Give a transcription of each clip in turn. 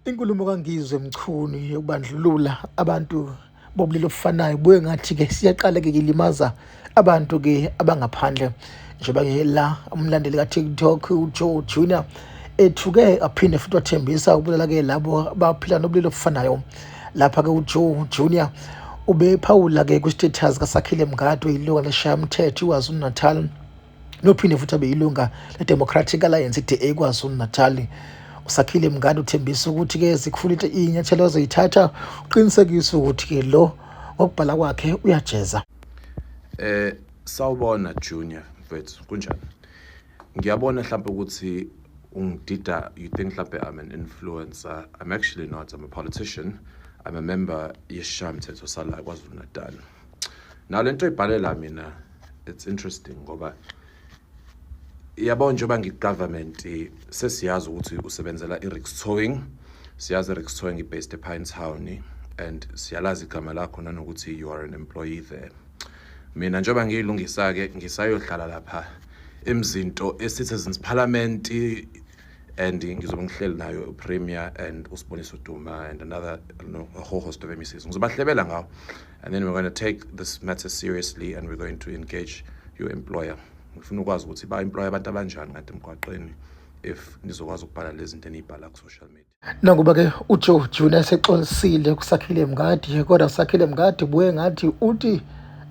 Inkulumo kaNgizwe Mchunu yokubandlulula abantu bobulili obufanayo buye ngathi-ke siyaqala-ke kilimaza abantu-ke abangaphandle njengoba ngela umlandeli ka-tiktok ujoe junior ethuke aphinde futhi wathembisa ukubulala-ke labo abaphila nobulili obufanayo lapha-ke ujoe junior ubephawula-ke kwi-status kasakhile mngadi oyiloka leshayamthetho iwazulu natal nophinde futhi abe yilunga le-democratic alliance i-da kwazulu-natali usakhile mngane uthembisa ukuthi-ke zikufulile iy'nyathelo azoyithatha uqinisekise ukuthi-ke lo ngokubhala kwakhe uyajeza eh sawubona junior mfethu kunjani ngiyabona mhlawumbe ukuthi ungidida you think mhlawumbe i'm an influencer i'm actually not i'm a politician i'm a member yesishayo mthetho sala kwazulu-natal Now lento ibhalela mina it's interesting ngoba yabo njengoba ngigovernment sesiyazi ukuthi usebenzela iRix Towing siyazi iRix Towing ibased ePinetown and siyalazi igama lakho nanokuthi you are an employee there mina njengoba ngiyilungisa ke ngisayohlala lapha emzinto eCitizens Parliament and ngizobe ngihleli nayo upremier and usiboniso duma and another no, a whole host of mcs ngizobahlebela ngawo and then we're going to take this matter seriously and we're going to engage your employer ngifuna ukwazi ukuthi ba-employe abantu abanjani kanti emgwaqeni if nizokwazi ukubhala lezi zinto eniyibhala ku-social media Nakuba ke uJoe Junior esexolisile kuSakhile Mngadi kodwa uSakhile Mngadi buye ngathi uthi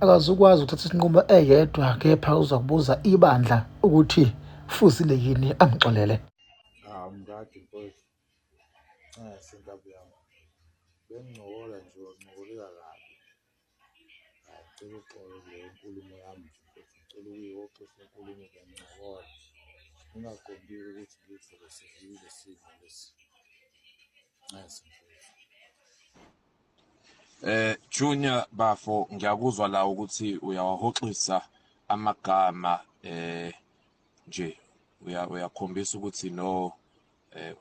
akazukwazi ukuthatha isinqumo eyedwa kepha uzokubuza ibandla ukuthi fuzile yini amxolele. Ah Mngadi mfowethu. Cha sengabe yami. Bengincokola nje wancokolela kabi. Ngicela uxolo le nkulumo yami nje mfethu, ngicela ukuyixoxa inkulumo bengincokola ngingaqondile ukuthi ngidlule sivile simo lesi. Nxese mfethu. Eh Junior bafo ngiyakuzwa la ukuthi uyawahoxisa amagama eh nje uyakhombisa ukuthi no eh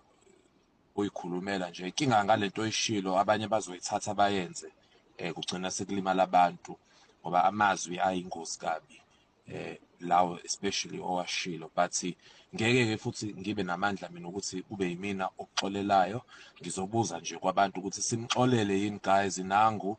uyikhulumela nje inkinga ngalento oyishilo abanye bazoyithatha bayenze eh kugcina sekulimala abantu ngoba amazwi ayingozi kabi eh lawo especially owashilo but ngeke ke futhi ngibe namandla mina ukuthi kube yimina okuxolelayo ngizobuza nje kwabantu ukuthi simxolele yini guys nangu